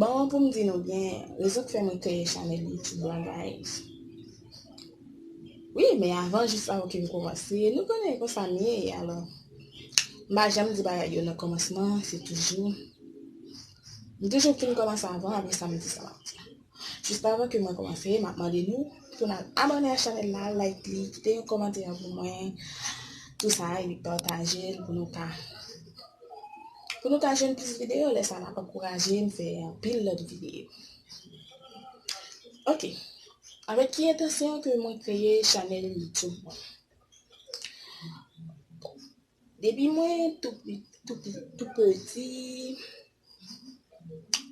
Bon pou m di nou byen rezon k fè mwen kreye chanèl youtube lan guys wi men avan jis avan ke m kòmanse nou konnen konsa m ye alò m pa janm di bagay yo nan kòmansman se toujou m toujou fin kòmanse avan apresa m di sa m ap di. Jis avan ke mwen komanse, map mande nou pou nal abòne a chanèl la, like li, kite yon kòmantè pou mwen, tou sa epi patajel pou nou ka pou nou ka jwenn plis videyo, lè sa nap ankourajem fè anpil lòt videyo. Ok, avèk ki entansyon ke mwen kreye chanèl YouTube mwen? Depi mwen tou peti,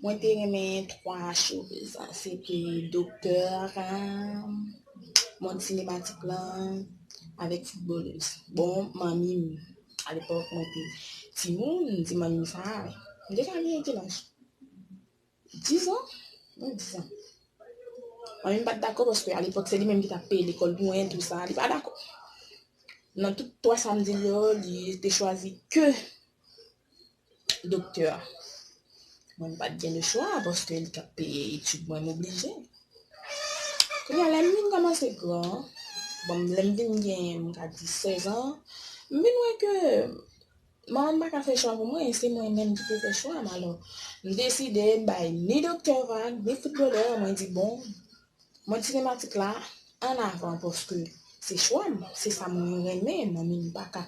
mwen te renmen 3 cheve sa. Se te doktè a, mond sinematik la, avèk foutbolèz. Bon, manmi m, a lepòk mwen te timoun, m di manmi m sa. M deja gen kilaj? 10 ans? Mwen 10 ans. Mwen menm pat dakò paske a lepòk se li menm ki tap peye lekòl pou mwen tou sa, li pa dakò. Nan tout 3 sa mdil yo, li te chwazi ke doktè a. Mwen mpat gen le chwa paske li tap peye etid mwen moblije. Kounya lèm vin kòmanse gran, bon lèm vin gen mka di 16 ans, mvin wè ke Manmanm pa ka fè chwa pou mwen, se mwen menm ki pou fè chwam alò m deside m bay ni doktè vag ni foutbolè mwen di bon mond sinematik la an avan paske se chwam se sa mwen renmen manmi m pa ka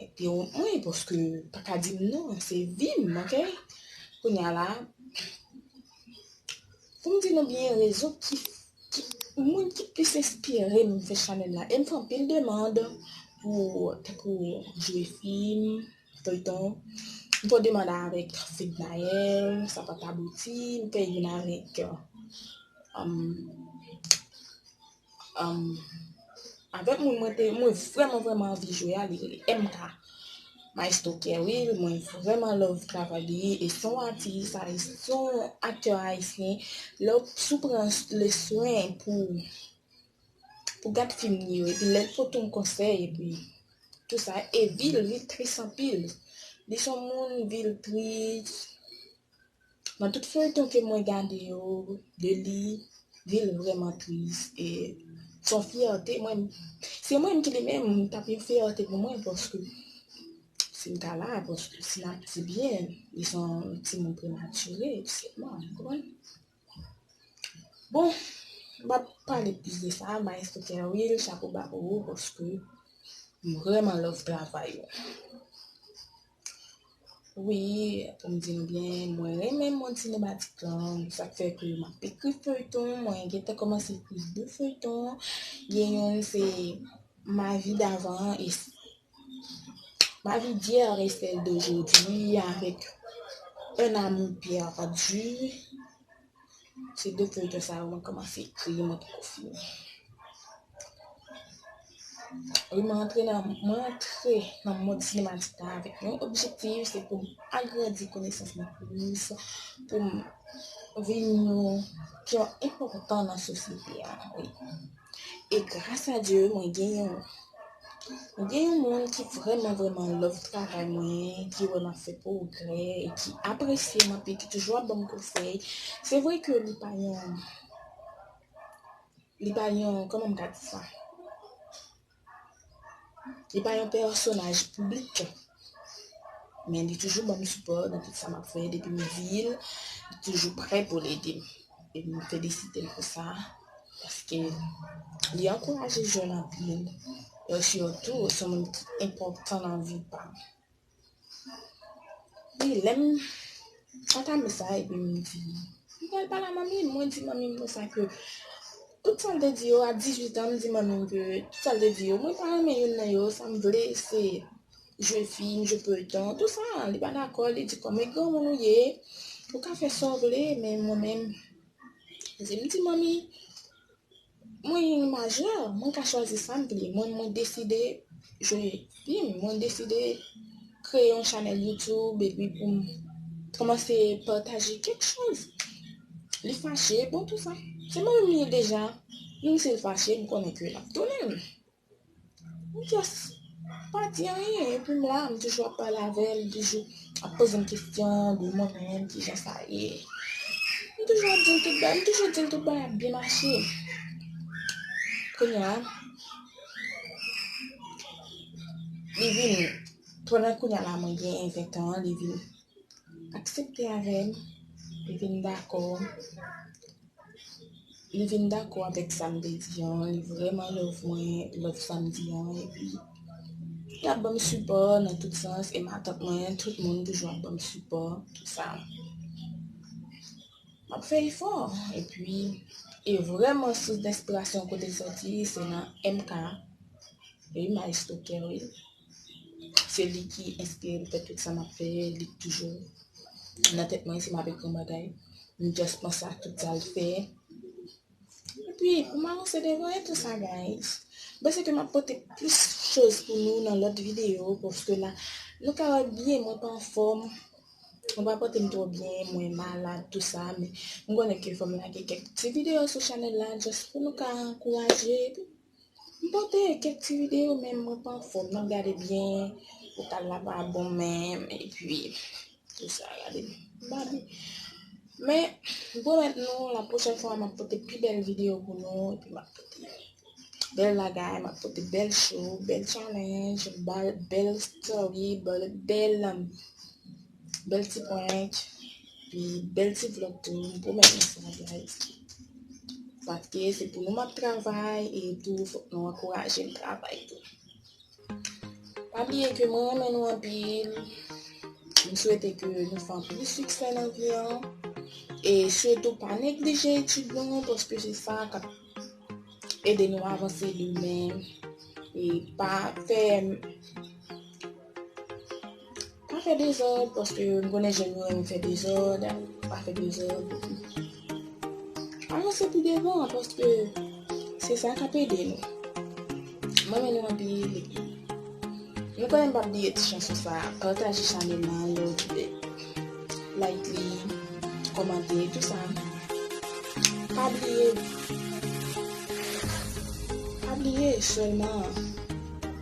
entewonp mwen paske paka di m non se vi m ok kounya la Pou m di nou byen rezon ki moun ki plis enspire m fè chanèl la e m fè anpil demand pou tankou jwe fim, feyton, m fè yon demand avèk Fednaelle, sa pat abouti, m fè youn avèk Avèk moun mwen te mwen vrèman vrèman anvi jwe a li rele MK Maestro Kerry mwen vrèman love travay li e se yon atis ayisyen se yon aktè ayisyen lè si w pran le swen pou pou gad fim li yo epi lè l pote yon konsèy epi tou sa e vi l vi l tris anpil li se yon moun vi l tris Nan tout feyton ke mwen gade yo de li lil vreman tris e son fyète mwen se mwen menm ki li menm li tap yon fyète pou mwen paske sim ta la paske si nap di byen li son timoun prematire sèlman ou konprann bon pap pale plis de sa maestro kerwil chapo ba pou ou paske m vreman love travay ou. Wi, pou m di nou byen, mwen renmen mond sinematik lan, sa k fè ke m ap ekri feyton, mwen gen tan kòmanse ekri 2 feyton, gen youn se ma vi davan e ma vi d'yèr e sèl dojodi avèk un amour pèdi. Se de feyton sa yo mwen komanse kriye mwen poko fini. Wi mwen antre nan mwen antre nan mod sinematik la avèk yon objektif se pou m agrandi konesans mwen plis, pou m vin yon ki yon enpòtan nan sosyete a. E gras a Dye mwen gen yon mwen gen yon moun ki vreman vreman love travay mwen, ki wè map fè pwogrè, ki apresye m anpil, ki toujou ap banm konsèy. Se vre ke li pa yon li pa yon kòman m ka di sa? Li pa yon pèsonaj piblik, men li toujou banm sipò nan tout sa map fè depi m di l, li toujou prè pou l ede m. E m felisite l pou sa paske li ankouraje jèn anpil e sitou se moun ki enpòtan nan vi pa m. Wi, lè m antame sa epi m di, m pral pale a manmi m, mwen di manmi m konsa ke tout sa l te di yo a 18 an, m di manmi m ke tout sa l te di yo, mwen pa renmen youn nan yo, sa m vle se jwe fim, jwe feyton, tout sa, li pa dakò, li di kòm e granmoun ou ye, ou ka fè sa w vle, men mwen menm, m di manmi. Mwen yn majè, mwen ka chwazi sam vle, mwen mwen deside jwe vim, mwen deside kreye yon chanèl youtube epi poum kòmanse pataje kèk choz, li fache bon tout sa se mwen menm liye deja, menm sil fache m konnen ke lap tounenm. M just pa di anyen epi m la m toujou ap pale avè l li toujou ap poze m kesyon li mwen menm kijan sa ye m toujou ap di l tout bagay m toujou di l tout bagay ap byen mache kounya li vin pandan kounya la mwen gen 20 ans li vin aksepte avè m, li vin dakò, li vin dakò avèk sa m te di an, li vrèman love mwen, love sa m di an, epi li ap ban m sipò nan tout sans, e matant mwen, tout moun toujou ap ban m sipò, tout sa. M ap fè efò, epi, e vrèman sous denspirasyon kote l sòti, se nan MK, wi, Maestro Kerwin. Se li ki enspire m fè tout sa m ap fè, li k toujou nan tèt mwen si m ap ekri yon bagay, m just panse ak tout sa l fè epi pou m avanse devan e tou sa guys. M panse ke m ap pote plis choz pou nou nan lòt videyo paske la nou ka wè byen mwen pa anfòm, mwen pa pote m twò byen, mwen malad tou sa men m konnen ke fò m lage kèk ti videyo sou chanèl la just pou nou ka ankouraje epi. M pote kèk ti videyo men mwen pa anfòm nan gade byen vokal la pa bon menm epi tout sa gade babi men m pwomèt nou la pwochèn fwa m ap pote pi bèl videyo pou nou epi m ap pote bèl bagay m ap pote bèl show bèl challenge bèl story bèl Bèl ti prank, pi bèl ti vlog tou, m pwomèt nou sa guys. Paske se pou nou m ap travay, e tou fòk nou ankouraje m travay tou. Pa bliye ke mwen renmen nou anpil, m swete ke nou fè anpil siksè nan vi an, e sitou pa neglije etid nou an paske se sa k ap ede nou avanse demen, e pa fè. Pa fè dezòd paske m konnen jèn yo renmen fè dezòd, pa fè dezòd. Avanse pi devan paske se sa k ap ede nou. M renmen nou anpil epi nou konnen m p ap bliye ti chanson sa a, pataje chanèl la a yon ti lè, like li, kòmante, tou sa. Pa bliye, pa bliye sèlman